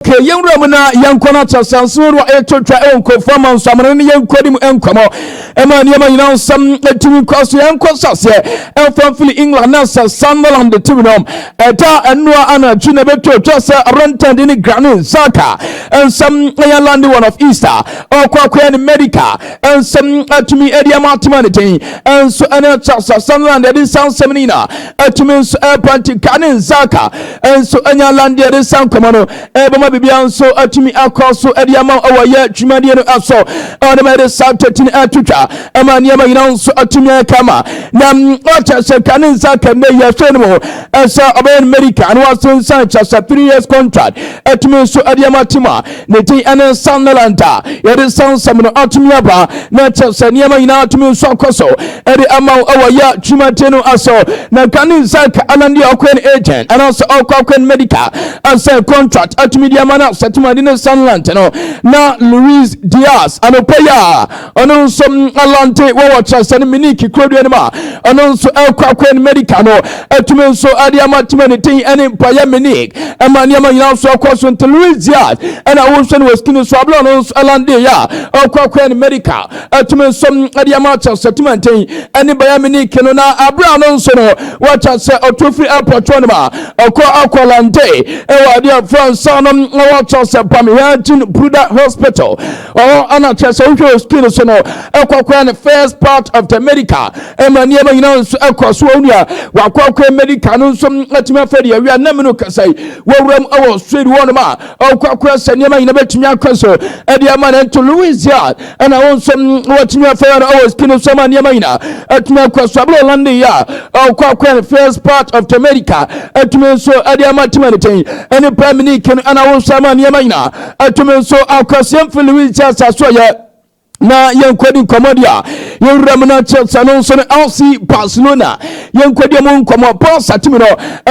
Tie yɛn wura mu na yɛnkɔ no akyɛsɛ nso no a ɛto twa ɛwɔ nkurɔfoɔ ama nso amene ne yɛn nkɔdi mu nkɔmmɔ ɛma nneɛma nyinaa nsɛm ɛtumi kɔ so yɛnkɔ sɛ aseɛ ɛmfa mfiri England na sɛ Sunderland de tumi nom ɛda ɛnoa anadwo na ɛbɛto twa sɛ Rentend ne Granit Xhaka nsɛm ɛyɛ lande one of Easter ɔkɔ akɔyɛ ne medical nsɛm atumi ɛde ama atema ne den ɛnso ɛne kyɛ sɛ Sunderland ɛde nsa nsɛm no nyinaa Ɛtumi nso ɛrepa ntika ne nzaka nso anya landeɛ de sa nkɔmɔ no ɛbɛma biribiara nso atumi akɔ so de ama wo wɔ yɛ dwumadie no so ɛwɔ ne ma yɛde saa twetini atwitwa ɛma nneɛma nyinaa nso atumi ayɛ kama na ɔkyɛ sɛ ka ne nzaka nnɛ yi ɛhwɛ no mu ɛsɛ ɔbɛyɛ no medical ne wasensan kyɛ sɛ three years contract ɛtumi nso ɛde ama tim a Ne din ne Nsanneland a yɛde nsansam no atumi aba, na ɛkyerɛ sɛ nneɛma nyinaa atumi nso akɔ so de ama wo wɔ yɛ dwumadie no so. Na nka ne nsa ka ɛna deɛ ɔkɔyɛ no agent anaasɛ ɔkɔ akɔyɛ no medical ɛsɛ contract atumi de ama no asɛtemade ne Nsanneland no. Na Luis Diaz anɔpa yi a ɔno nso alante wɔ wɔ kyerɛsɛ no miniki kurodua no mu a ɔno nso ɛkɔ akɔ ne medica no atumi nso ɛde ama tumi ne ten ɛne mpaeɛ minik ɛma nneɛma nyinaa nso ɛkɔ so nti louis diaz ɛna wohwɛ no wɔ skin so abla ɔno nso alante yɛ a ɔkɔ akɔ ne medica atumi nso ɛde ama kyerɛsɛ tumi nten ɛne bayɛ miniki no na abla ɔno nso no wɔkyɛ sɛ ɔtu firi apɔtɔ no ma ɔkɔ akɔ alante ɛwɔ adeɛ fransa no wɔkyɛ sɛ pamehɛ gyin bruda hospital ɔhɔ ana kyerɛ sɛ wohwɛ wɔ screen so no ɛkɔkora ne first part of the medical ɛma nneɛma nyinaa nso ɛkɔ so wɔn nua wakɔkora medical no nso atumi afɛ deɛ awia nam no kasa yi wɔwura mu ɛwɔ swede wɔn ma ɔkɔkora sɛ nneɛma nyinaa bɛtumi akɔ so ɛde ama no nto louisia ɛna wɔn nso wɔtumi afɛ wɔn ɛwɔ screen so ɛma nneɛma nyinaa atumi akɔ so abɛlɛ ɔlande yi a ɔkɔkora ne first part of the medical atumi nso ɛde ama timanitɛn ɛne prime minister ɛna wɔn nso ama nneɛma nyinaa ɛtumi nso akwasea mfi lewis kyɛ asaso yɛ na yɛnkɔdi nkɔmmɔ deɛ a yɛwura mu no akyerɛ sɛ no nso no lc barcelona yɛnkɔdi mu nkɔmmɔ paul satimi no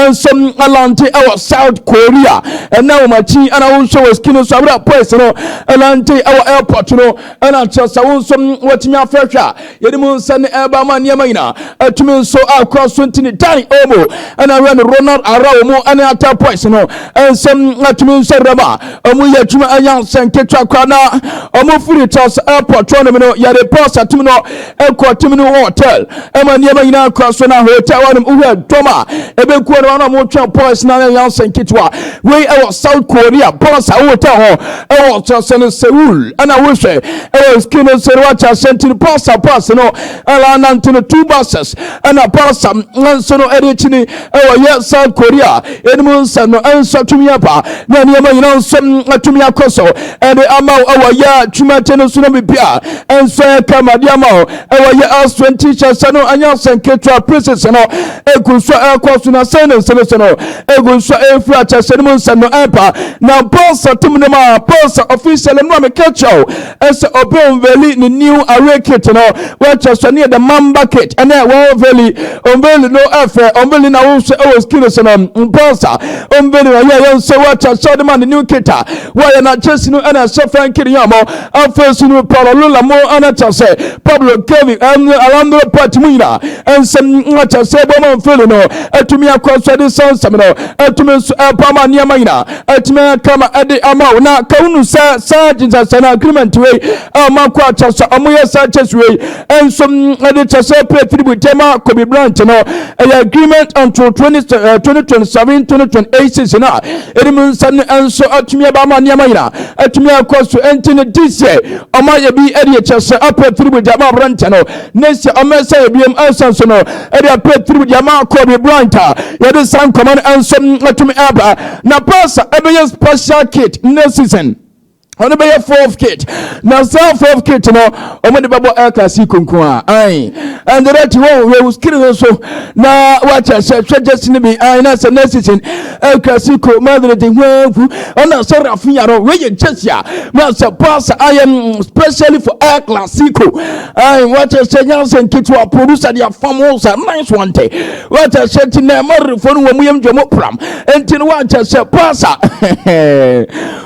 nso alante ɛwɔ south korea ɛna wɔn akyi ɛna wohwɛ wɔ skin nso abera pois no alante ɛwɔ airport no ɛna kyerɛ sɛ wo nso wɔtumi afrɛhwɛ a Yɛde mu nsa ne ɛba ama nneɛma nyinaa atumi nso a kura so nti ne Dan Olmo ɛna awura ne Ronald Ara wɔn ɛne Ata Boys no nsɛm atumi nso awura ma wɔn yɛ adwuma ɛnya nsɛn ketewa koraa na wɔn firi Charles Airport wɔn nom no yɛde bɔs atim no ɛkɔ tim no hotel ɛma nneɛma nyinaa kura so na hotel wɔn nom wohɛ dɔm a ɛbɛkuo no wɔn a wɔtwɛn boys na ɛnya nsɛn ketewa wei ɛwɔ South Korea bɔs a hotel ho ɛwɔ ɔkyɛsɛ no seul ɛna wohwɛ ɛwɔ ski no sɛ no wakyɛ ahyɛ nti no pasa pasa no ɛla nante no two buses ɛna pasa nso no ɛde akyi ni ɛwɔ yɛ south korea ɛnim nsɛm no ɛnso atumi aba na nneɛma nyina nso atumi akɔ so ɛde ama wo ɛwɔ yɛ twumate no so no bibi a ɛnso ɛka made ama wo ɛwɔ yɛ aswɛnti hyɛ sɛ no anya sɛ nketewa pieces no ɛgu so ɛkɔ so na sɛ ne nsɛm so no egu nso a efiri akyɛhyɛ no mu nsɛm no ɛmpa na Paul sɛ tum no ma Paul sɛ officially no a meka kyerɛ wo ɛsɛ obi onveli ne new away kit no wɔkyerɛ sɛ ne yɛ the mamba kit ɛnɛ wɔnveli onveli no ɛfɛ onveli na wohwɛ ɛwɔ skin so no Paul sɛ onveli na yɛyɛ nso wɔkyerɛ sɛ ɔde ma ne new kit a wɔyɛ na kyɛsi no ɛna ɛhyɛ fɛn kiri yɛ ɔmo afei so no Paul lula mo ɛna kyerɛ sɛ Pablo Kevin ɛm Alejandro Pati mu nyinaa ɛnsɛm ɛkyerɛ sɛ bɔmɔ onveli no ɛtumi akɔ so de sɛ nsɛm no ɛtumi nso ɛbɔ ama nneɛma nyinaa ɛtumi ayɛ kama ɛde ama wo na ka wonu sɛ saa gyesasɛ no agreement wei ɛma kɔ akyɛ sɛ ɔmoyɛ saa kyɛ so wei ɛnso ɛde kyɛ sɛ pɛ tiribu gyama kobi branch no ɛyɛ agreement until 2027 2028 no a ɛnim nsɛm no ɛnso ɛtumi ɛbɔ ama nneɛma nyinaa ɛtumi akɔ so ɛnti no this year ɔma yɛ bi ɛde kyɛ sɛ apɛ tiribu gyama branch no ne sɛ ɔmɛsa yɛ biom ansa nso no ɛde apɛ tirim deɛ ama akɔ bi branch a yɛde saa nkɔmɔ no nso atumi aba na pasa ɛbɛyɛ special kit ne season ɔno bɛyɛ fourth kit na saa fourth kit no wɔn de bɛbɔ air classic nko a ayi ɛnde dɛ ti wɔn wɔ skiri no so na wakyɛ sɛ hwɛ gyesi no bi ayi na sɛ next season air classic ko madrid hwɛnfu ɔna sɛ rafinha no wɔyɛ gyesi a na sɛ pass ayɛ specially for air classic ko. Ayi wata sɛ nyansa nketewa producer de afam ho sa nice one te wata sɛ ti na ɛmɔrefo no wɔn yam dwom pram nti no wata sɛ pasa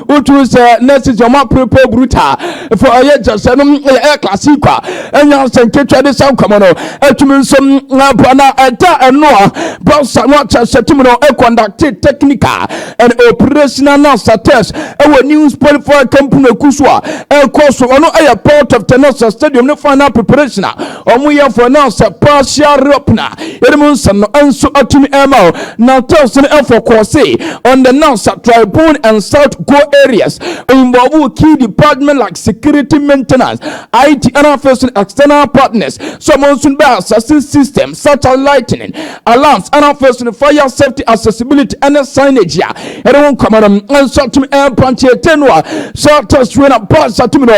wotu sɛ nurses wɔn aperepe bruta fo ɛyɛ kyɛ sɛ no ɛyɛ klase kwa nyansa nketewa de sa nkɔmɔ no ɛtumi nso na ɛda ɛno a pasa wata sɛ tumi no ɛkɔndakte technical and operational assaults ɛwɔ new sport for akampunaku so a ɛkɔ so ɔno ɛyɛ part of tenasa stadium ne final preparation a wɔn yɛ for now sɛ partial reopen a yɛn mu nsɛm no nso atumi ɛma o na test no ɛfɔ kɔɔse on the nasa tribune and south go areas involve key department like security maintenance it and afei so external partners so wɔn nso bɛ assassin system such as lightning alarms ɛna afei so no fire safety accessibility ɛne signage a ɛde ho nkɔmɔ no nso atumi ɛmpankyɛ ɛte no a sɛ test wei na bus atumi no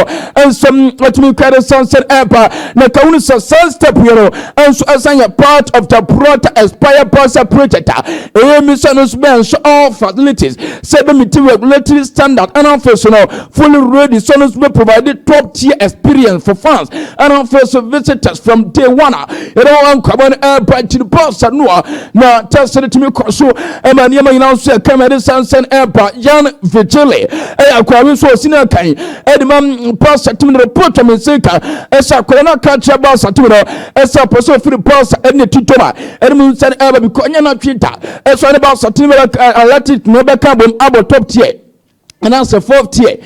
nso atumi kura de sansan ɛba na ka wunu sɛ saa step yɛ no nso ɛsan yɛ part of the broader expire bus project a ɛyɛ mi sɛ no nso bɛn so all facilities sɛ bɛ meet regulatory standard ɛna afei so no fully ready sɛ no nso bɛ provide top tier experience for fans ɛna afei so visitors from day one a Yɛde wɔn nkwama no ɛreba akyiri pɔsa no a na tɛsɛ no tumi kɔ so ɛma nneɛma nyinaa nso yɛ kama de sansan ɛreba yan vigile ɛyɛ akwadaa bi nso ɔsi no akan ɛde ma pɔsa tumi no repɔtɔ me nse ka ɛsɛ akwadaa no aka kyerɛ pɔsa tumi no ɛsɛ pɔsa ofiri pɔsa ɛne ne titɔ ma ɛde mu nsa no ɛreba bi kɔ nyɛ n'atwe da ɛsɛ ne pɔsa tumi bɛka alati tumi bɛka bom abɔ top tier ɛna sɛ fourth tier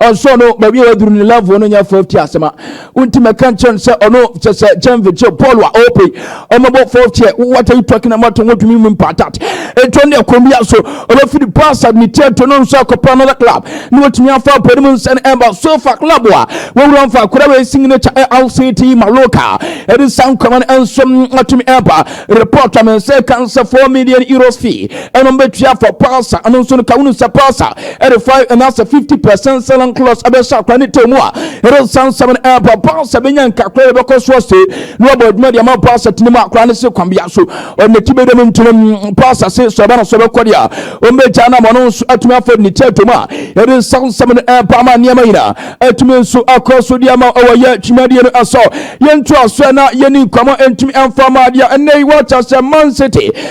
ɔnso no baabi a waduru ne level no nyɛ fourth tier asɛm a wonti mɛka nkyɛn no sɛ ɔno kyɛ sɛ kyɛn vikyɛ paul a ɔpɛ ɔmɛbɔ fourth tier what are you talking about wɔn tumi mu mpatat ɛtɔ ne ɛkɔm bi aso ɔbɛfiri pasad ne tier to no nso akɔpɛ another club ne wɔtumi afa apɔ ne mu nsɛn ɛba so fa club a wɔwura mfa akora wɔ signature lct maloka ɛde saa nkɔma no nso atumi ɛba report a mɛnsɛ kan sɛ 4 million euros fee Ɛnom bɛtua for pulsar. Ɛno nso no ka wonu sɛ pulsar ɛde 5 anaasɛ 50 percent selling clause ɛbɛhyɛ akora ne tɛw mu a ɛde san nsɛm no ɛɛbɔ pulsar bɛnya nkakora ɛbɛkɔ so ase na wabɔ adwuma de ama pulsar tene mu akora ne se kwambea so ɔne ti bɛdam ntinam mm, pulsar se sɛ ɔba no so bɛkɔ deɛ a ɔmbɛgya no ama ɔno nso atumi afɔ ne tɛw mu a ɛde san nsɛm no ɛɛbɔ ama nneɛma nyinaa atumi nso akɔ so deɛ ama ɔwɔ yɛ twimadeɛ no ɛsɔ yɛntoa so na yɛni nkɔmɔ ntumi ɛmfa ma adeɛ ɛnɛ yi wɔkyɛ sɛ man city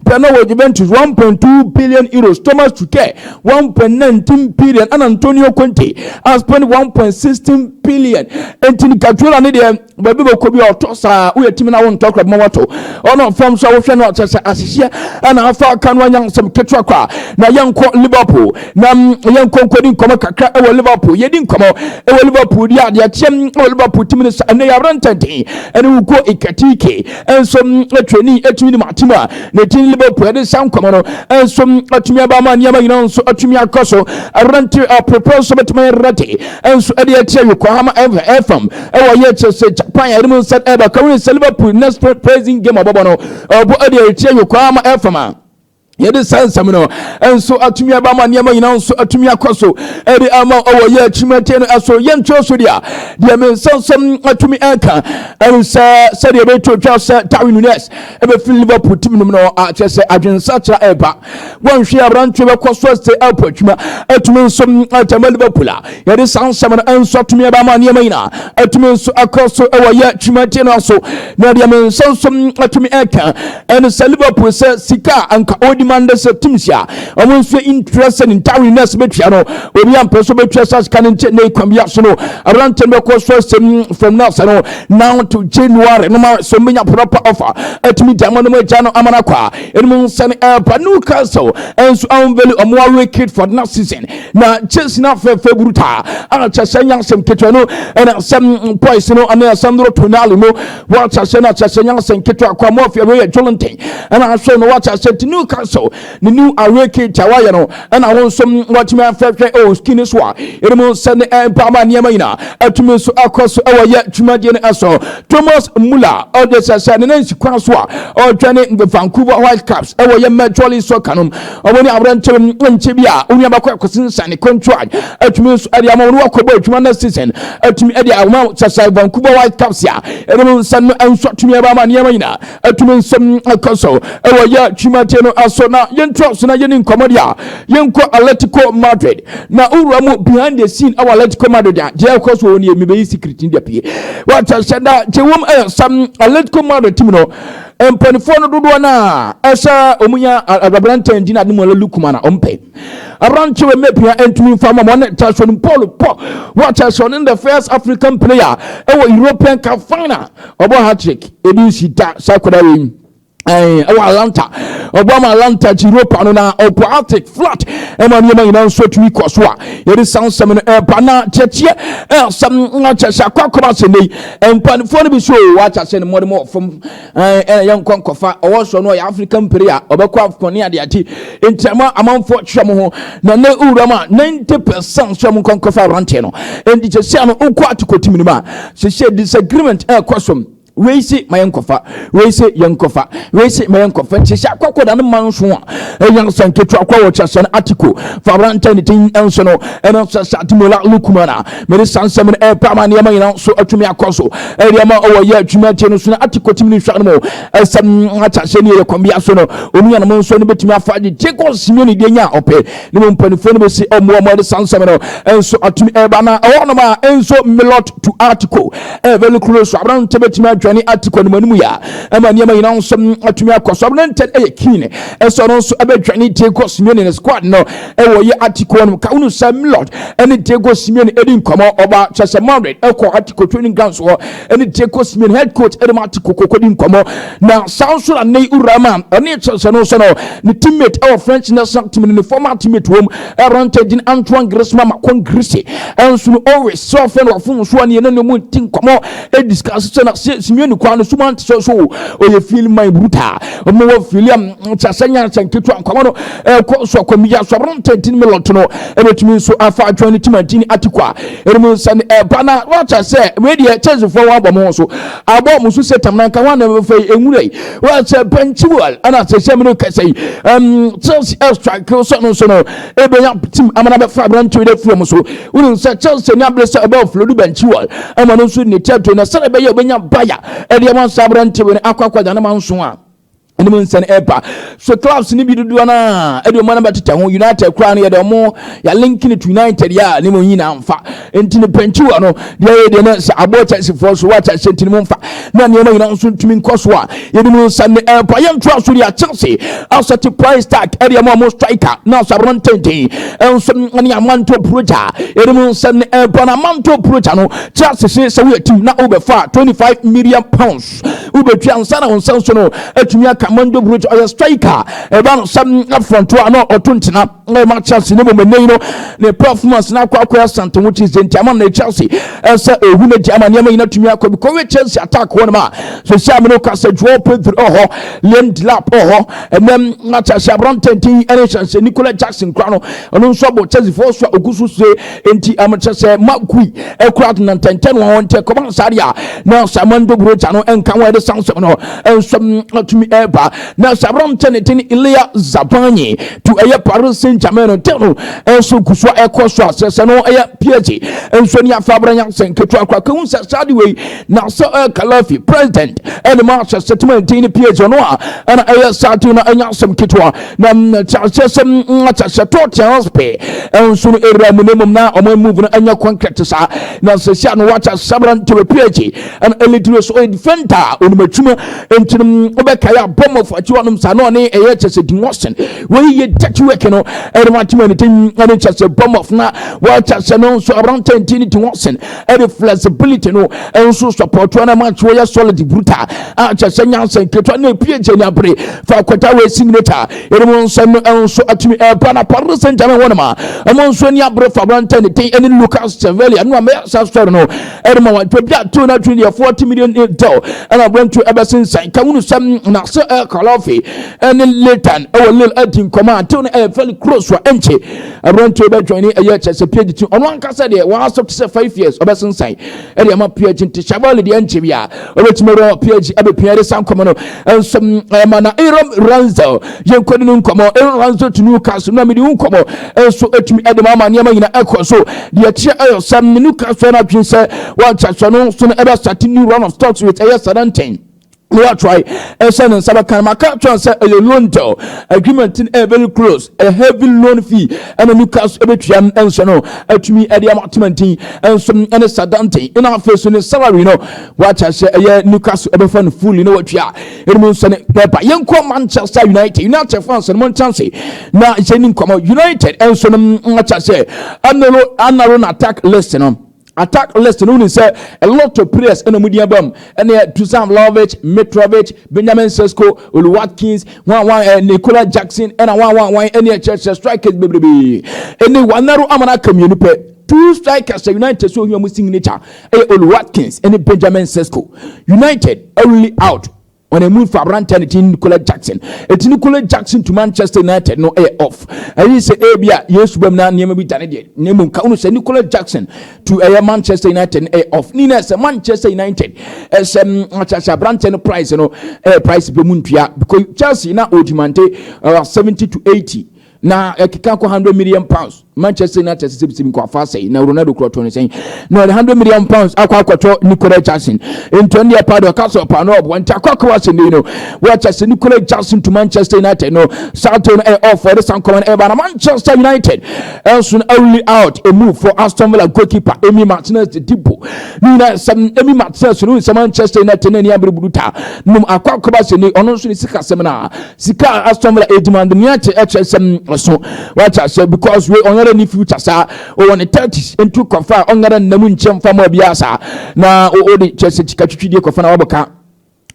Ebia na ɔwɔ Juventus €1.2 billion, Euros, Thomas Tuchel €1.19 billion, ɛna Antonio Conte a spend €1.16 billion. Enti no Guardiola ne deɛ baabi bɛkɔ bi a ɔtɔ saa woyɛ timi na wontɔ kora bɛma wato ɔno fam so a wohwɛ no a kyɛ sɛ ahyehyɛ ɛna afa aka no anya nsɛm ketewa kɔ a na yɛnkɔ Liverpool na yɛnkɔ nkɔdi nkɔmmɔ kakra ɛwɔ Liverpool yɛdi nkɔmmɔ ɛwɔ Liverpool di adeɛ kyeɛm ɛwɔ Liverpool timi no sa ɛnɛ yɛabrɛ ntɛntɛn ɛne wokɔ Ikatike nso trani atumi de matim a ne din liverpool ɛde sa nkɔmɔ no nso atumi aba ma nneɛma nyinaa nso atumi akɔ so ɛrante ɔprepɔ nso bɛtumi ɛrate nso ɛde akyerɛ yokohama ɛfam ɛwɔ yɛ kyerɛ sɛ japan ɛde mu nsa ɛbɛka wei sɛ liverpool next president game ɔbɔbɔ no ɔbɔ ɛde akyerɛ yokohama ɛfam a yɛde saa nsɛm no nso atumi aba ma nneɛma nyinaa nso atumi akɔ so ɛde ama ɔwɔ yɛ akyirimatie no ɛso yɛntwerɛ so deɛ deɛ me nsa nsɛm atumi ɛnka ɛne sɛ sɛdeɛ ɛbɛto twa sɛ darwin nunes ɛbɛfiri liverpool tim nom no akyɛ sɛ adwensakyera ɛba wɔnhwɛ aberanteɛ bɛkɔ so ɛsɛ ɛpo atwuma atumi nso atama liverpool a Yɛde saa nsɛm no nso atumi aba ama nneɛma nyinaa atumi nso akɔ so wɔ yɛ twumagye no so. Na deɛ me nsa nso atumi ɛka ɛne sɛ Liverpool sɛ sika a anka ɔdi ma ndɛ sɛ teams a wɔn nso yɛ interested in Darwin Nunez bɛtua no obi ampɛ so bɛtua saa sika no nti na ɛkwan bia so no aberante no bɛkɔ so asɛm from now sɛ no now to January no ma so mbɛnya proper offer atumi gya ma no mu agya no ama no akɔ a ɛnum nsa no ɛba Newcastle nso anveli ɔmo awe Kitford na season na chase na fɛfɛ bruta a kyɛ sɛ nya asɛm ketewa no ɛna asɛm poise no ɛna asɛm doro tonali no wɔakyɛ sɛ na kyɛ sɛ nya asɛm ketewa kwa mɔfi ɛwɔ yɛ jolenten ɛna aso no wɔakyɛ sɛ ti new council ne new awake kit a wɔayɛ no ɛna wɔn nso wɔatumi afɛhwɛ ɛwɔ skin so a ɛde mu sɛ ne ɛmpa ama nneɛma nyinaa atumi nso akɔ so ɛwɔ yɛ dwumadie no ɛso thomas muller ɔde sɛ sɛ ne nansi kwan so a ɔredwane vancouver whitecaps ɛwɔ yɛ major league soccer no Wɔn ne aberanteɛ mu nkyɛ bi a onua baako akɔsi nsa ne contract atumi nso ɛde ama wɔn wakɔbɔ adwuma next season atumi ɛde ama sasa Vancouver Whitecaps a ɛdɛm nsa no nso atumi ɛba ama nneɛma nyinaa atumi nsɛm ɛkɔ so ɛwɔ yɛ twimadeɛ no aso na yɛntra so na yɛne nkɔmmɔ deɛ a yɛnkɔ Atletico Madrid na wowura mu behind the scene ɛwɔ Atletico Madrid a deɛ ɛkɔ so wɔ ne mebɛyi secret no deɛ pie wɔkyɛ hyɛ da gye wɔm ɛyɛ sam Atletico Madrid team no Mpanimfoɔ no dodoɔ no a ɛsɛ wɔn nya aberantɛ ndi na ademuala lu kuma na wɔn pɛ. Aberantɛ wɔ mmɛ pia ntumi nfa ma wɔn ta so no Paul Pɔ wɔkyɛ sɛ ɔne the first African player ɛwɔ European Cup final ɔbɔ hat-trick ebi nsi da saa akwadaa wei ɛwɔ Atlanta ɔbɔ ama Atlanta gye Europa no na ɔkɔ Arctic flat ɛma nneɛma nyinaa nso tumi kɔ so a yɛde sansɛm no ɛba na kyɛkyɛ ɛsɛm akyɛ sɛ akɔ akɔba sɛ nnɛ yi Mpanimfoɔ no bi so o wɔakyɛ ahyɛ ne mmɔden wɔ fam ɛna yɛn nkɔ nkɔfa ɔwɔ soro no ɔyɛ Africa mpere a ɔbɛkɔ afcon ne adeade nti ama amanfoɔ kyerɛ mo ho na ne wura mu a 90 percent so ɔmo nkɔ nkɔfa aberanteɛ no nti sɛsia no wokɔ atokɔtim no mu a sɛsia disagreement ɛkɔ so wei se ma yɛn nkɔfa wei se yɛn nkɔfa wei se ma yɛn nkɔfa nti sɛ akɔkɔ da no ma nso a ɛyɛ nsa nketewa kɔ wɔ kyerɛ sɛ no atiko fa aberanteɛ ne din nso no ɛna sɛ sɛ ademola lukumana mede saa nsɛm no ɛrepɛ ama nneɛma nyinaa nso atumi akɔ so ɛde ama ɔwɔyɛ adwuma akyɛ no so no ate kɔtim ne nhwa no mu ɛsɛm akyɛhyɛ ne ɛyɛ kwambea so no onuanom nso no bɛtumi afa gyegye kɔ simia ne deɛ nya a ɔpɛ ne mu mpanimfoɔ no bɛsi ɔmmoa mu ɛde saa nsɛm no nso atumi ɛreba na ɛwɔ nom a nso melot to article ɛbɛlu kuro so aberante bɛtumi adwane article no mu anim yɛ a ɛma nneɛma nyinaa nso atumi akɔ so aberante ɛyɛ keen ɛsɛ ɔno nso ɛbɛdwane tie kɔ simia ne squad no ɛwɔ yɛ atikoɔ no ka wonu sɛ Milord ɛne Diego Simeone ɛdi nkɔmɔ ɔba kyɛ sɛ Madrid ɛkɔ atiko training grounds hɔ ɛne Diego Simeone head coach ɛde ma atiko koko di nkɔmɔ na saa nso na ne wura ma ɛne kyɛ sɛ no nso no ne teammate ɛwɔ French national team ne former teammate wɔm ɛrante din Antoine Griezmann makɔn Greece ɛnso no always sɛ ɔfɛ no ɔfo nso aneɛ ne ne mu nti nkɔmɔ ɛdiscuss sɛ na Simeone kwa no suma nti sɛ so ɔyɛ feel my brutal ɔmo wɔ feel am kyɛ sɛ nyansa nketewa nkɔmɔ no ɛkɔ nso akɔmiyɛ asɔre ntɛntini mu lɔto no ɛbɛtumi nso afa adwene ne timantini atiko a ɛnum nsa ne ɛba na wɔakyɛ sɛ wei deɛ kyɛnsefoɔ wɔabɔ mo so abɔ mo so sɛ tam nanka ho anam fɛ yi nwura yi wɔakyɛ bɛnkyiwal ɛna sɛ sɛ mene kɛsɛ yi ɛm chelsea ɛstrike sɛ no nso no ɛbɛnya tim amana bɛfa aberante wei afiri mo so wonim sɛ chelsea ne abere sɛ ɛbɛ ɔflodu bɛnkyiwal ɛma no nso ne tɛto na sɛdeɛ ɛbɛyɛ ɔbɛnya baya ɛdeɛ wɔnsa aberante wei akɔ akɔgya ne ma nso a ɛne mu nsɛn ɛba so clubs no bi dodoɔ no a ɛde ɔmo anaba tetɛ ho united koraa no yɛde ɔmo yɛlinki no to united yɛ a ne mu nyina mfa nti no pɛnkyiwa no deɛ yɛ deɛ no sɛ aboɔ kyɛsefoɔ so wɔ kyɛse nti no mu mfa na nneɛma nyina nso ntumi nkɔ so a yɛde mu nsa ne ɛba yɛ ntoa so deɛ akyɛse asɛte price tag ɛde ɔmo ɔmo striker na asaboro ntenten nso ne amanto proja yɛde mu nsa ne ɛba na amanto proja no kyɛse sɛ woyɛ team na wobɛfa 25 million pounds wobɛtua nsa na wo nsa nso no atumi aka manjo brot ɔyɛ striker ɛba no sɛ afrɔnto a na ɔto ntena na ɛma chelsea ne mmom ɛnɛ yi no ne performance no akɔ akɔyɛ asante ho kyi sɛ nti ama na chelsea ɛsɛ ɔhu no gya ama nneɛma nyina tumi akɔ bi kɔwɛ chelsea attack hɔ no ma so sɛ amene woka sɛ joao pedro ɔhɔ liam dilap ɔhɔ ɛnɛ na chelsea aberantɛnten ɛne hyɛnsɛ nicola jackson kora no ɔno nso abɔ chelsea foɔ so a ɔgu so se Enti am kyɛ sɛ ma kui ɛkurat na ntɛntɛn wɔn ntɛ kɔba sari a na Simon de buro gya no nka wɔn de san sɛm no nsɛm atumi ɛba na sabra ntɛ ne din Ilya Zabanyi tu ɛyɛ Paris Saint-Germain no tɛn no nso gu so ɛkɔ so a sɛ sɛ no ɛyɛ PSG nso ni afa abra nya sɛ nketewa kora kɛhu sɛ saa de wei na sɛ ɛyɛ Kalafi president ɛne ma sɛ sɛtima ntin ne PSG no a ɛna ɛyɛ saa de no ɛnya sɛm ketewa na kyerɛkyerɛ sɛ kyerɛkyerɛ tɔɔ kyɛn ɔs pɛ nso no ɛwura mu na mmom na ɔma move no ɛnyɛ kɔnkrɛte saa na sɛ si a no wakyɛ sabra ntere phd ɛna ɛlitire so ɔyɛ defender a ɔnim atwuma nti no wobɛkae a bɔmmɔfo akyi hɔnom saa na ɔne ɛyɛ kyɛ sɛ dimɔsen wɔyi yɛ dirty work no ɛde wakyema ne tim ɛne kyɛ sɛ bɔmmɔfo na wakyɛ sɛ no nso aberantɛ nti ne dimɔsen ɛde flexibility no nso support wɔn ama nso wɔyɛ solid brutal a kyɛ sɛ nyansa nketewa na epie gye nya bere fa akɔta wɔ simulator ɛnum nsɛm no nso atumi ɛba na paris saint germain wɔn ma wɔn nso ni abere fa aberantɛ ne den ɛne lucas sevelia no a mɛyɛ sa sɔre no ɛde ma wɔn baabi a too no atwene deɛ forty million dɔl ɛna aberantu ɛbɛsensan ka wunu sɛm na sɛ ɛkɔlɔfe ɛne letan ɛwɔ lil adi nkɔmɔ a too no ɛyɛ fɛli cross wa ɛnkye Aberanteɛ bɛ join ɛyɛ kyɛ sɛ PhD ti ɔno ankasa deɛ wɔn asɔ te sɛ five years ɔbɛsensan ɛde ama PhD nti Shavali deɛ nkyɛ bi a ɔbɛtumi awura PhD abɛpia ɛde sa nkɔmɔ no nso ɛma na Aaron Ranzel yɛn kɔdi no nkɔmɔ Aaron Ranzel to Newcastle na mede nkɔmɔ nso ɛtumi ɛde ma ama nneɛma nyina ɛkɔ so deɛ kyerɛ ɛyɛ sɛ Newcastle no adwene sɛ wɔnkyɛ so no so no ɛbɛsate new round of talks with ɛyɛ Southampton na watry ɛhyɛ ne nsa bɛka no maka kyerɛ sɛ ɛyɛ loan deal agreement no ɛyɛ very close a heavy loan fee ɛna new cars ɛbɛtua no ɛnso no atumi ɛde ama temantin ɛnso ɛne sadanten ɛna afei so ne salary no wakyɛ sɛ ɛyɛ new cars ɛbɛfa no fully na watua ɛnum nso ne bɛba yɛnkɔ manchester united united fans no monkyɛn se na yɛni nkɔmɔ united ɛnso no akyɛ sɛ anaro anaro na attack list no attack list no wonim sɛ a lot of players ɛna ɔmo din aba mu ɛne Dusan Vlahovic, Mitrovic, Benjamin Sesko, Oli Watkins, wan wan eh, Nicola Jackson ɛna wan wan wan ɛne ɛkyerɛkyerɛ strikers bebrebe ɛne wanaro ama no aka mmienu pɛ two strikers a United so ohia ɔmo signature ɛyɛ Oli Watkins ɛne Benjamin Sesko United only out wɔn emu nfa aberanteɛ ne ti Nicola Jackson eti Nicola Jackson to Manchester United no ɛyɛ off ɛyi sɛ ebi a Yesu bɛm na nneɛma bi dane deɛ na emu nka ɔno sɛ Nicola Jackson to ɛyɛ Manchester United no ɛyɛ off ne na ɛsɛ Manchester United ɛsɛ mm, akyakye aberanteɛ no price no ɛyɛ price bɛ mu ntua because Chelsea na ɔgyimante ɛwɔ seventy to eighty. na ɛkeka kɔ hundred million pounds manchester united sɛ sɛbisɛbi nkɔ afa asɛe na ronaldo korɔ tɔ no sɛn na ɔde hundred million pounds akɔ akɔtɔ nicola jackson nti ɔne ɛpa de ɔka sɛ ɔpa no ɔboa nti akɔ akɔ asɛm yi no wɔkyɛ sɛ nicola jackson to manchester united no saa to no ɛyɛ ɔfɔ ɛde san kɔma no ɛba na manchester united ɛnso no awuli out emu for aston villa goalkeeper emi martinez de dibo ne nyinaa sɛm emi martinez no nsɛm manchester united na ɛni abiri budu ta nom akɔ akɔ ba sɛ ni ɔno nso ne sika sɛm na Sika a Aston Villa redemand nea ɛte ɛkyerɛ sɛm so. Wate aseɛ because wei ɔnyɛrɛ ni future saa. Ɔwɔ ne thirties nti kɔfa a ɔnyɛrɛ nna mu nkyɛ mfa mɔ biara saa. Na ɔde kyerɛ sɛ sika twitwi deɛ kɔfa na wabɔ ka.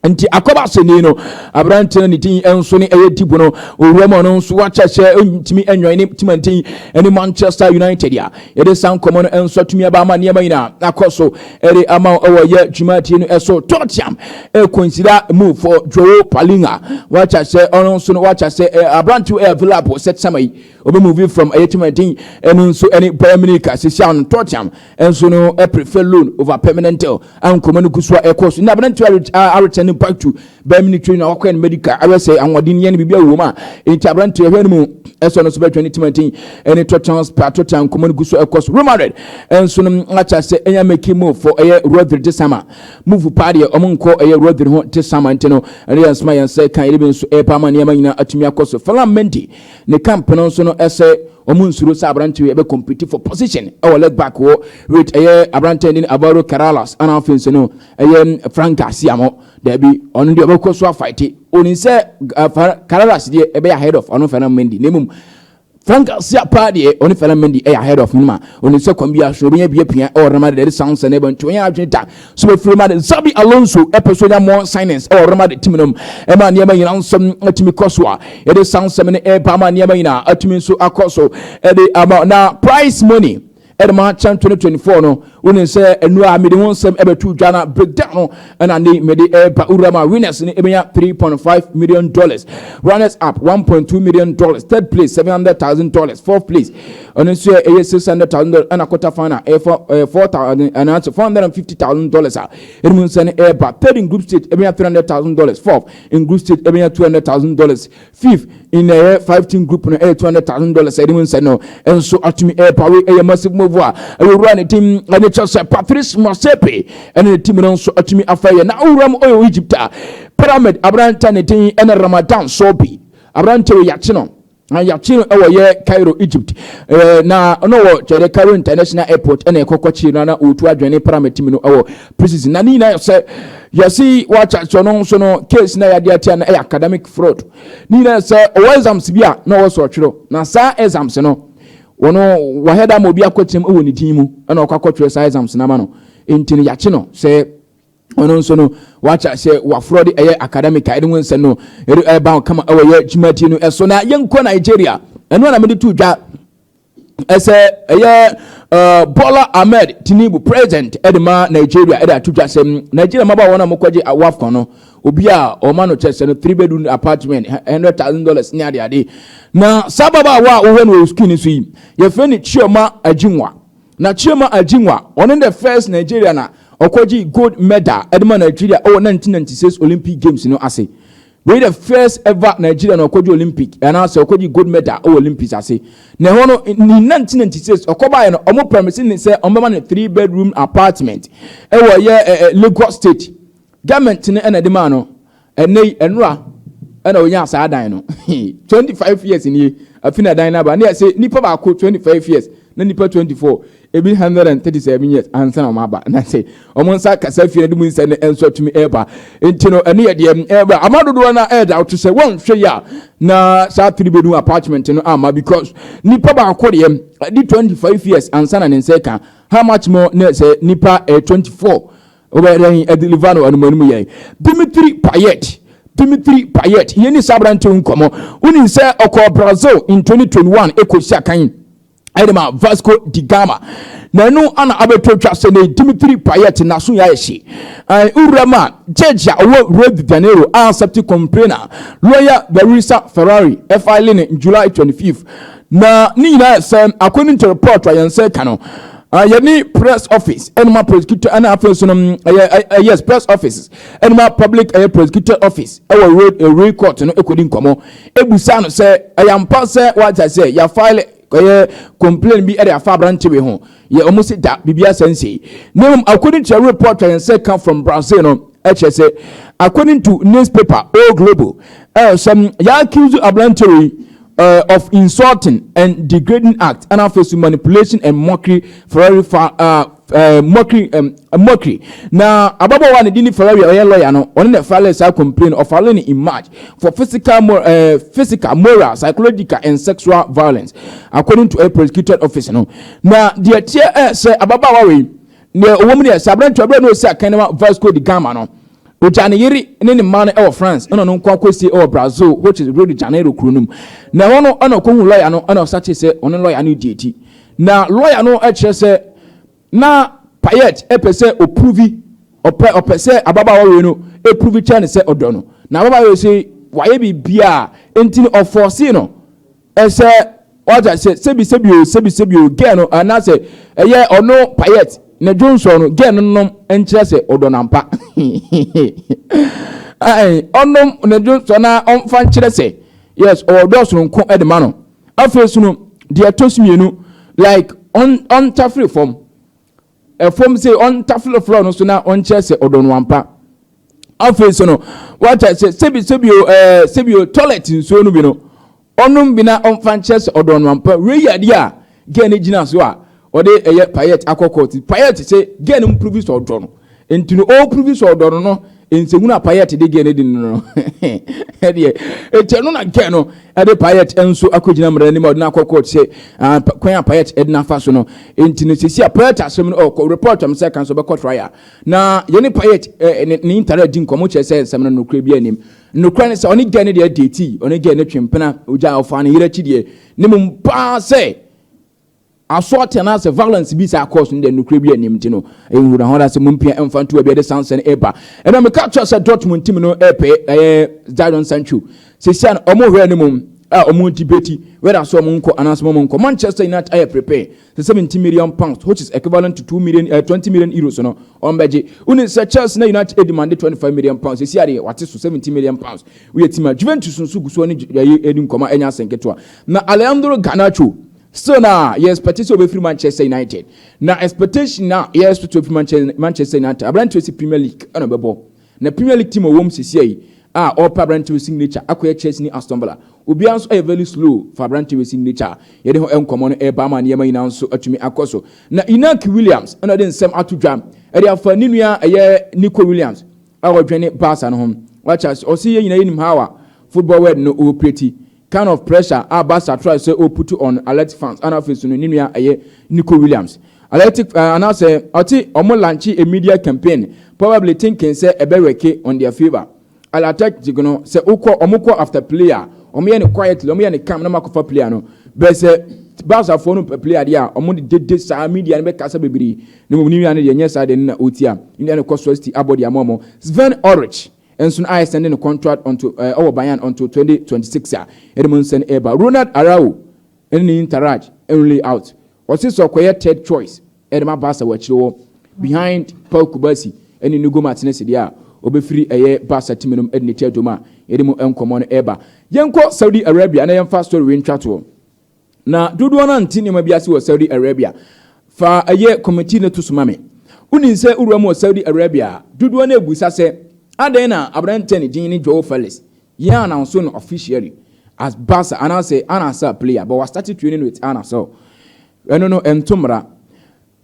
Nti akɔba asɛnni no aberanteɛ no ne din nso ne ɛyɛ Deep no owura mu ɔno nso wate aseɛ ɔntumi ɛnwɛn ne timantin ɛne Manchester United a Yɛde saa nkɔmmɔ no nso atumi aba ama nneɛma nyinaa akɔ so ɛde ama wo ɛwɔ yɛ dwumadie no ɛso tɔtiam ɛkonsida mu for Joe Palinga wakyɛ sɛ ɔno nso no wakyɛ sɛ aberantew ɛyɛ available sɛ tɛma yi obi move from ɛyɛ tɛma din ɛno nso ɛne Bayern Munich sisi ano tɔtiam ɛnso no ɛprefer loan over permanent deal ankɔmmɔ no gu so a ɛkɔ so na aberantew aretɛn back to bɛyɛ military na wakɔyɛ no medical ayɛ sɛ ahoɔden yɛ no biribi awɔ mu a enti aberanteɛ hwɛ no mu ɛsɛ ɔno nso bɛtwɛn ne timantin ɛne totans pa totan nkɔmmɔ no gu so ɛkɔ so rumored ɛnso no akyɛ sɛ ɛnya make move fɔ ɛyɛ rodri te sama move paa deɛ ɔmo nkɔ ɛyɛ rodri ho te sama nti no ɛne yɛn nsoma yɛn sɛ kan yɛde bi nso ɛpa ama nneɛma nyinaa atumi akɔ so falam menti ne camp no nso no ɛsɛ ɔmo nsuro sɛ aberanteɛ ɛbɛ compete for position ɛwɔ leg back wɔ rate ɛyɛ aberanteɛ ne avaro karalas ana afei nso no ɛyɛ frankaa siamɔ daabi ɔno deɛ ɔbɛkɔ so afaete ɔnim sɛ kararas deɛ ɛbɛyɛ ahead of ɔno fɛna mendi na mmom frankaa sia paa deɛ ɔne fɛna mendi ɛyɛ ahead of nima ɔnim sɛ kwan bi aso ɔbɛnya bi apia ɛwɔ rama de sound sɛ na ɛbɛnti ɔnyɛ adwene da so bɛfiri ma de zabi alonso ɛpɛ so nya more signings ɛwɔ rama de tim nom ɛma nneɛma nyina nsɛm atumi kɔ so a ɛde sound sɛm ne ɛba ama nneɛma nyina atumi nso akɔ so ɛde ama na price money ɛde ma kyɛn 2024 no wonim sɛ ɛnu a mede ho nsɛm ɛbɛto dwa na breakdown no ɛna ne mede ɛreba wura ma winners no ɛbɛnya 3.5 million dollars runners up 1.2 million dollars third place 700,000 dollars fourth place ɛno nso ɛyɛ 600,000 dollars ɛna quarter final ɛyɛ 4,000 anaasɛ 450,000 dollars a ɛde mu nsɛm ɛreba third in group stage ɛbɛnya 300,000 dollars fourth in group stage ɛbɛnya 200,000 dollars Fifth, in ɛyɛ five team group no ɛyɛ two hundred thousand dollars ɛde mu nsɛ no nso atumi ɛrepawe ɛyɛ massive move a ɛyɛ owura ne din ɛne kyɛ sɛ Patrice Motsepe ɛne ne team no nso atumi afa yɛ na owura mu ɔyɛ Egypt a Pyramid aberantɛ ne din ɛne Ramadan Sobhi aberantɛ wɔ yɛakye no na yɛakye no ɛwɔ yɛ Cairo Egypt ɛɛ na ɔno wɔ kyɛdɛ Cairo International Airport ɛna ɛkɔkɔkye no na ɔtu adwene Pyramid team no ɛwɔ Presidency na ne nyinaa yɛ sɛ yɛsi wɔakyɛ so no nso no case na yɛade atia no ɛyɛ academic fraud ne nyinaa yɛ sɛ ɔwɔ exams bi a na ɔwɔ so ɔtwerɛ na saa exams no wɔn wɔayɛ da ama obi akɔkyerɛm wɔ ne din mu ɛna ɔkɔ akɔtwerɛ saa exams no ama no nti no yɛakye no sɛ ɔno nso no wɔakyɛ sɛ wɔaforɔ de ɛyɛ academic a ɛde ho nsɛm no ɛde ɛba kama ɛwɔ yɛ dwumadie no ɛso na yɛnkɔ Nigeria ɛno na mede to dwa ɛsɛ ɛyɛ uh, Bola Ahmed Tinubu president ɛde ma Nigeria ɛde ato dwa sɛm Nigeria mmabaa wɔn a wɔkɔgye awafkɔ no obi a ɔma no kyɛ sɛ no three bedroom apartment hundred thousand dollars ne ade ade na saa ababaawa a wɔhwɛ no wɔ sukuu no so yi yɛfrɛ no Chioma Ajinwa na Chioma Ajinwa ɔno the first Nigeria na ɔkɔgye gold medal ɛde ma Nigeria ɛwɔ 1996 Olympic Games no ase Wei yɛ the first ever Nigerian a ɔkɔgye Olympic anaa sɛ ɔkɔgye gold medal wɔ Olympics ase. Na ɛhɔ no ne nantinanti sɛ ɔkɔbaeɛ no wɔn promise ne sɛ wɔn bɛma no three bedroom apartment ɛwɔ ɛyɛ Lagos state government no ɛna ɛde maa no. Ɛnɛ yi ɛnora ɛna ɔnyaa saa dan no twenty five years nie afi na dan no aba ne yɛse nipa baako twenty five years Na nnipa twenty four, ebi hundred and thirty seven years ansa na wɔaba. Na sɛ wɔn nsa kasa afie no de mu nsɛm no nso atumi ɛreba. Nti no ɛno yɛ deɛ ɛreba. Ama dodoɔ no ara ɛreda wote sɛ wɔnhwɛ yi a na saa three bedroom apartment no amma because nipa baako deɛ ɛde twenty five years ansa na ne nsa ɛka. How much more na sɛ nipa ɛyɛ twenty four Wobɛyɛ dɛn adi Livano anumanu yɛn? Dimitri Payet Dimitri Payet, yɛni saa aberante wo nkɔmmɔ. Wonim sɛ ɔkɔɔ Brazil in 2021 ɛkɔsi akan ɛde ma Vasco di Gama. Na ɛno ana abɛtɔ twa sɛ ne Dimitri Payet naso yɛ ayɛ hye. Wura ma judge a ɔwɔ Rio de Janeiro a accept complain a lawyer Larissa Ferrari ɛfile ne July 25th. Na ne nyinaa yɛ sɛ according to report a yɛn nsa aka no, yɛne press office ɛne ma prosecutor ɛna afei nso no ɛyɛ yes press office ɛne ma public ɛyɛ prosecutor office ɛwɔ road ɛwuri court no ɛkɔdi nkɔmɔ ɛbusa no sɛ ɛyɛ mpa sɛ wata sɛ yɛ file ɛyɛ complain bi ɛde afa aberante wei ho yɛ ɔmo si da biribi asɛ nsei na mmom according to a report a yɛn sɛ ka from Brazil no ɛkyɛ sɛ according to newspaper O Globo ɛyɛ sɛ yɛ accuse aberante wei uh, of Insulting and Degrading Act, and afei so Manipulation and Mockery, Ferrari, fa, uh, uh, mockery, um, mockery. Now, ababaawa ne dini Ferrari ɔyɛ oh, lawyer no, ɔno na file saa complain of filing in March for physical, mor uh, physical, moral, psychological and sexual violence, according to a prosecutor office no. Now, the teɛ eh, sɛ ababaawa wei, na ɔwɔ mu ne sɛ aberɛntoa berɛ na ɔsi akan no Vasco da Gama no, Ogyaa ne yere ne ne mma no wɔ France na ɔno nko ara kosieɛ wɔ Brazil which is Rio de Janeiro kuro no mu. Na ɛhɔ no na ɔkɔhuu lɔya no na ɔsakyee sɛ ɔne lɔya no redi adi. Na lɔya no kyerɛ sɛ na Payet pɛ sɛ ɔprovi, ɔpɛ ɔpɛ sɛ ababaawa wei no provi kyerɛ no sɛ ɔdɔ no. Na ababaawa wei se wayɛ biribiara nti no ɔfɔɔsee no Ɛsɛ wate aseɛ sɛbi sɛbi o sɛbi sɛbi o girl no anaasɛ ɛyɛ ɔno payet ne dwonsɔ no girl no nom nkyerɛ sɛ ɔdɔ no ampa ae ɔnom ne dwonsɔ na ɔmfa nkyerɛ sɛ yes ɔwɔ dɔ soronko de ma no afei so no deɛ ɛtɔ so mmienu like ɔntafere fam fam sɛ ɔntafere floor no so na ɔnkyerɛ sɛ ɔdɔ no ampa. Afei nso no, wata sɛ sɛbi sɛbi o ɛɛ sɛbi o toilet nsuo no bi no ɔnom bi na ɔmfa nkyerɛ sɛ ɔdɔ no ampa. Wei yɛ adeɛ a girl no gyina so a ɔde ɛyɛ payet akɔ court. Payet sɛ girl no mprovi sɛ ɔdɔ no nti no ɔprovi sɛ ɔdɔ no no Nsɛmhunu a Payette de gyee ne din no no deɛ, enti ɛno na nka ɛno de Payette nso akɔgyina mmara anim a ɔde no akɔ court sɛ kwan a Payette de no afa so no nti no sisi a Payette asɛm no ɔkɔ report am sɛ kan so ɔbɛkɔ trial na yɛne Payette ne ne ntare adi nkɔmmɔ kyerɛ sɛ nsɛm no nokorɛ bi anim nokorɛ ne sɛ ɔne gɛɛ no deɛ ɛdɛɛti ɔne gɛɛ no twe mpena ogya ɔfaa ne yere akyi deɛ ne mmom paa sɛ Aso atena ase violence bi saa cause no deɛ nokorɛ bi anim nti no ɛnhuru na hɔn ase mompia mfa nto baabi a ɛde Sancho no ɛreba ɛna meka kyerɛ sɛ Dortmund team no ɛrepɛ ɛyɛ Jadon Sancho sesia no ɔmo hwɛ anim a ɔmo debate whether sɛ ɔmo nkɔ anaasɛ ɔmo nkɔ Manchester United ayɛ prepare sɛ 70 million pounds which is equivalent to 2 million uh, 20 million euros no ɔmo bɛgye wone sɛ Chelsea na United demande 25 million pounds sesia deɛ wate so 70 million pounds woyɛ team a Juventus nso gu so ne ɛyɛ ɛdi nkɔmɔ ɛnyɛ asɛnketewa Na Alejandro Garnacho still na yɛ expect sɛ ɔbɛfiri Manchester United. Na expectation na yɛ expect ɔfiri Manchester Manchester United. Aberanteɛ si Premier League ɛna ɔbɛbɔ. Na Premier League team a ɔwɔ mu sesia yi a ɔrepɛ aberanteɛ wɔ signature akɔyɛ Chelsea ne Aston Villa. Obiara nso ɛyɛ very slow fa aberanteɛ wɔ signature a yɛde ho nkɔmmɔ no ɛreba ama nneɛma nyinaa nso atumi akɔ so. Na Inaki Williams ɛna ɔde nsɛm ato dwa ɛde afa ne nua ɛyɛ Nico Williams a ɔdwene Barca no ho. Wate ase? Ɔse yɛn nyinaa yɛnim how a football world no operate. Kind of pressure a Barca try sɛ o put on Athletic fans ana afei so no ne nua ɛyɛ Nico Williams Athletic eh, ana sɛ ɔte ɔmo launche a media campaign probably thinking sɛ ɛbɛ worke on their favour Al Athletic no sɛ o kɔ ɔmo kɔ after player a ɔmo yɛ no quietly ɔmo yɛ no calm na ɔmo akɔ fa player no bɛ sɛ Barca foɔ no pɛ player deɛ a ɔmo de dede saa media no bɛ kasa bebree na mmom ne nua no deɛ nyɛ saa deɛ no na o tia ne nua no kɔ so asti abɔ deɛ ama ɔmo Sven Ulrich Nson a ɛsɛn ne no contract onto eh, wɔ Bayern onto 2026 a ɛde mu nsɛn ɛreba. Ronald Araujo ne ne Interaj nrule out. Ɔse sɛ ɔkɔyɛ third choice ɛde ma Barca wɔ akyire hɔ behind Pau Cubarsí ne Nigo Martinez deɛ a, ɔbɛfiri ɛyɛ Barca time nom de ne tɛɛtom a yɛde mu nkɔmmɔ no ɛreba. Yɛnkɔ Saudi Arabia na yɛmfa story wei ntwa toɔ. Na dodoɔ no ara nte nneɛma bi ase wɔ Saudi Arabia. Fa ɛyɛ kɔmɛti no to so ma me. Wonim sɛ wowura mu wɔ Saudi Arabia a, dodoɔ no ara bisa sɛ, Adɛn na aberanteɛ a ne din ne Joao Felix yɛn announce no officially as Barca anaasɛ Al Nassr player but wɔastate training with Al Nassr? Ɛno no, ɛnto mmara.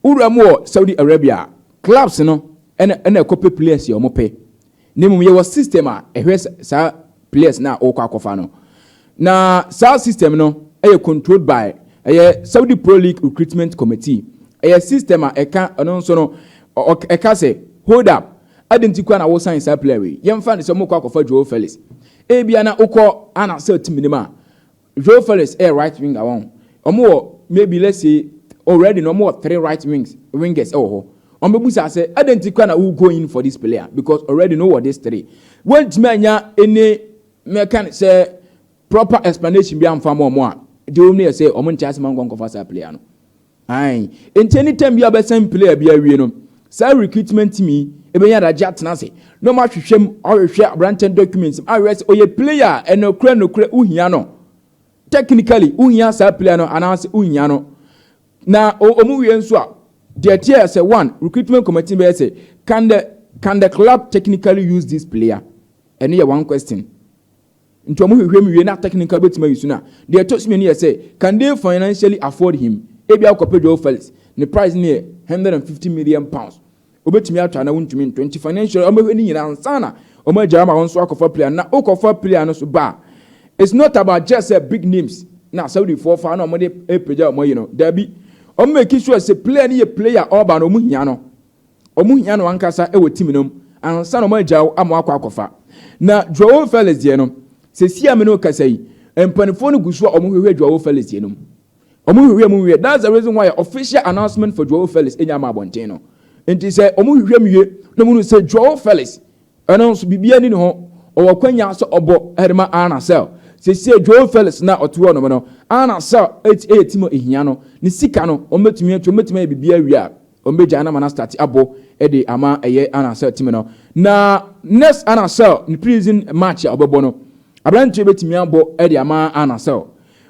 Wura mu wɔ Saudi Arabia a, clubs no na na ɛkɔ pɛ players a wɔpɛ. Na mmom yɛwɔ system a ɛhwɛ saa players no a wɔkɔ akɔfa no. Na saa system no yɛ controlled by ɛyɛ Saudi Pro League Recruitment Committee. Ɛyɛ system a ɛka ɛno nso no, ɛka sɛ, hold up, adɛn nti koraa na wo sign saa player wei? Yɛmfa no sɛ wɔkɔ akɔfa Joao Felix. Ebia na wokɔ Al Nassr team no mu a, Joao Felix yɛ right winger wɔn ho. Wɔn wɔ maybe let's say oh ready no wɔn wɔ three right wings wingers wɔ hɔ. Wɔn bɛ busa sɛ ɛdɛ nti kura na wo go in for this player because already no wɔ this three. Wɔn ntumi anya any mɛ kan sɛ proper explanation bi anfa ma wɔn a deɛ wɔn ni yɛ sɛ wɔn nkyɛn asɛm ankɔ nkɔfa saa player no. Aane, enti any time biara ɔbɛsan play a bi awie no, saa recruitment team yi ɛbɛnya adagye atena ase na wɔn ahwehwɛ mu, ahwehwɛ aberanteɛ no documents mu, ahwehwɛ sɛ ɔyɛ player a ɛnokorɛ nokorɛ wo hia no, technically wo hia saa player no anaa sɛ wo nhia no. Na wɔn wie nso a, deɛ ɛteɛ yɛ sɛ one, recruitment committee bɛyɛ sɛ, can the, can the club technically use this player? Ɛno yɛ one question. Nti ɔmo hwehwɛ mu wie na technically wobɛtumi ayi so no a, deɛ ɛtɔ so mmienu yɛ sɛ, can they financially afford him? Ebia wokɔpɛ Joao Felix, ne price no yɛ hundred and fifty million pounds, wobɛtumi atɔ anaa wontumi ntɔ. Nti financially ɔmo bɛhwɛ ne nyinaa ansa na ɔmo agyae ama wo nso akɔfa player no. Na wokɔfa player no nso ba a, it's not about just sɛ big names na Saudifoɔ fa na ɔmo de repagya wɔn ayi no, daabi. Ɔmo make sure sɛ player no yɛ player a ɔreba no ɔmo hia no. wɔhia no ankasa wɔ team no mu ansa na wɔagyaw ama wakɔ akɔfa. Na Joao Felix deɛ no, seesei a me ne wo kasa yi, mpanimfoɔ no gu so a wɔhwehwɛ Joao Felix deɛ no mu. Wɔhwehwɛ mu nwie. That's the reason why official announcement for Joao Felix nnya ama abɔnten no. Nti sɛ wɔhwehwɛ mu wie na wɔhunu sɛ Joao Felix Ɛno nso, biribiara nni ne ho. Ɔwɔ akwannya sɛ ɔbɔ de ma Anna Sell. Seesei, João Felix no a ɔte hɔnom no, Anna Sell yɛ ti ma ehia no. Ne sika no, wɔbɛtumi atua, wɔbɛtumi ayɛ biribiara awie a, wɔbɛgyae no ama no astate abɔ de ama ɛyɛ Anna Sell tim no. Na next Anna Sell ne pre-season match a wɔbɛbɔ no, aberanteɛ yi bɛtumi abɔ de ama Anna Sell.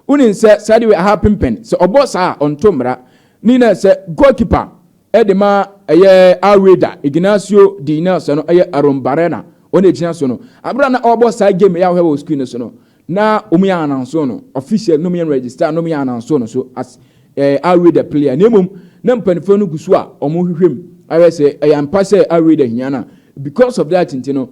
Wonim sɛ saa deɛ wei, aha pempɛn. Sɛ ɔbɔ saa a, ɔnto mmara. Ne nyinaa sɛ, goalkeeper Ɛde ma ɛyɛ Alweda Ignacio din na sɛ no ɛyɛ Arruembarrena ɔna ɛgyina so no. Aberɛ a na ɔrebɔ saa game yi a wohwɛ wɔ screen no so no, na wɔn yɛ ananso no official na wɔn yɛ register na wɔn yɛ ananso no so as eh, Alweda player na mmom na mpanimfoɔ no gu so a wɔrehwehwɛ mu ahwɛ sɛ ɛyɛ ampa sɛ Alweda hia no a because of that nti no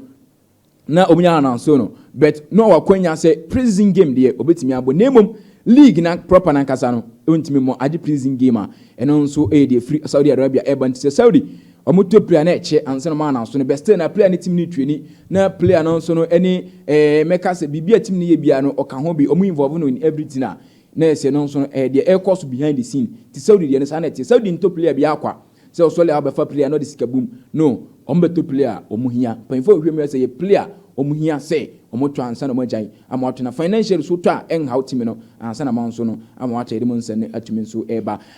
na ɔmo nya announce no but na ɔwɔ akwanya sɛ pre-season game deɛ ɔbɛtumi abɔ na mmom league na proper nankasa no ɔntumi mmɔ agye pre-season game a ɛno nso ɛyɛ deɛ firi Saudi Arabia ɛba nti sɛ Saudi ɔmo tɔ player na ɛkyɛ ansa na ɔmo announce no but still na player ne team ne twɛni na player no nso no ɛne ɛɛ mɛka sɛ biribi a team ne yɛ biara no ɔka ho bi ɔmo involve no in everything a na ɛsɛ no nso no ɛyɛ deɛ ɛkɔ so behind the scene ti Saudi deɛ no saa na ɛteɛ Saudi ntɔ player biara kwa Sɛ ɔsɔle a ɔbɛfa pili a na ɔde sika bom no wɔn bɛtɔ pili a wɔn hia. Mpanyinfo a wɔhwɛ mu yɛ sɛ yɛ pili a wɔn hia sɛ wɔn tɔ ansa na wɔn agyae ama wɔatɔ na financial so tɔ a ɛnhaw time no ansa na wɔn nso no ama wɔatɔ yɛde mu nsɛnne atumi nso ɛreba.